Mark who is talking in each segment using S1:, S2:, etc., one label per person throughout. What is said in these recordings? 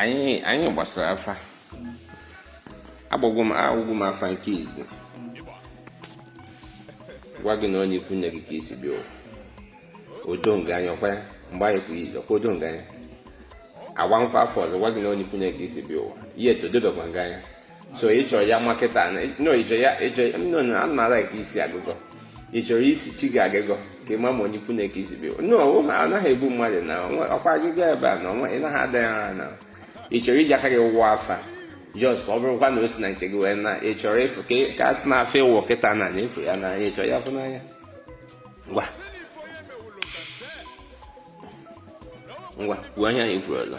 S1: anyị gbasara afa agbagwo m agwụgwụ m afa nke izizi gwa gị na onye ikwu nne gị ka i si bịa ụwa o doro gị anya ọkwa ya mgbe anyị kwuru ije ọkwa o doro gị anya a gbakwa afa ọzọ gwa gị na onye ikwu nne gị ka i si bịa ụwa ihe etododokwa nga anya so ị chọrọ ya nwa kịta no ịchọ ya ịchọ no no ana m ara ka isi agụgọ ị chọrọ isi chi gị agịgọ ka ị ma ma onye ikwu nne gị ka i si bịa no anaghị egbu mmadụ na ọkwa agịga ebe a na ọnwa ị naghị ada ya ara na ị chọrọ iji aka gị wụwa afa just ka ọ bụrụkwa na o si na nke gị wee na ị chọrọ ịfụ ka a sị na afọ ịwụ kịta na na ị fụ ya n'anya ị chọrọ ya fụ n'anya ngwa ngwa kwuo ihe anyị kwuru ọzọ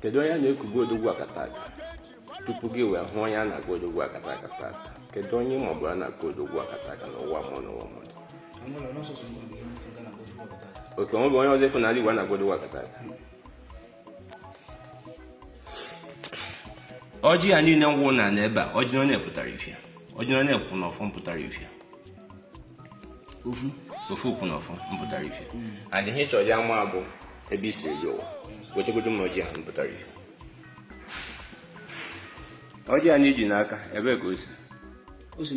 S1: kedu onye na-ekubu odogwu akata aka tupu gị wee hụ onye a na-agụ odogwu akata aka tata kedu onye mbụ a na-agụ odogwu akata aka n'ụwa mụọ n'ụwa mmadụ oke o nwebe onye ọzọ ị fụ n'ala Igbo a na-agụ odogwu akata aka ọjị ya niile ngwụ na n'ebe a ọjị na onye pụtara ife a ọjị na onye kwụ na ọfọ m pụtara ife a ofu ofu ukwu na ofu mpụtara ife and ihe ị chọrọ ịma bụ ebe i si eje ụwa wetegodo m ọjị ahụ mpụtara ife ọjị anyị ji n'aka ebee ka o si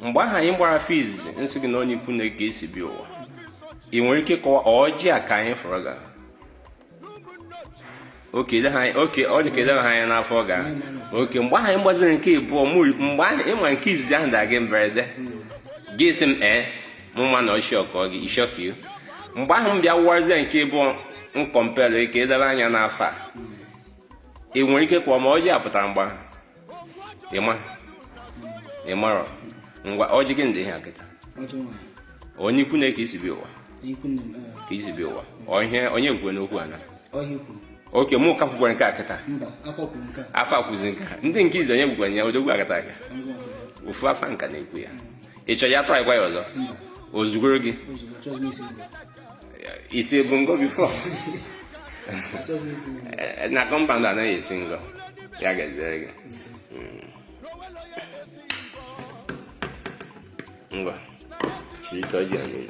S1: mgbe ahụ anyị gbara first m sị gị na onye ikwu nne gị ka i si bịa ụwa ị nwere ike kọwa ọjị a ka anyị fụrụ gara oke ide ha oke ọ dị ka ide ha anya n'afa a oke mgbe ahụ ịgbaziri nke ịbụọ mgbe ahụ ịma nke izizi ahụ da gị mberede gị sị m ee mụ ma na ọ shock gị it shock you mgbe ahụ m bịa wụwazie nke ịbụọ m kọmpelụ gị ka i debe anya n'afa a ị nwere ike kwa ma ọjị a pụtara mgbe ahụ ịma ịmara ngwa ọjị gị ndị ihe a kịta onye ikwu nne gị ka i si bịa ụwa ka i si bịa ụwa onye kwuo n'okwu a na oke mụ ka kwukwara nke a kịta afa ekwuzi nke a ndị nke izi onye gwukwara ya odogwu akata aka ofu afa nke a na-ekwu ya ị chọrọ ya tụọ agwa ya ọzọ o zugoro gị isi ebu ngo before na compound anaghị esi ngo ya ga-ejere gị ngwa chiri ka ọ ji anyị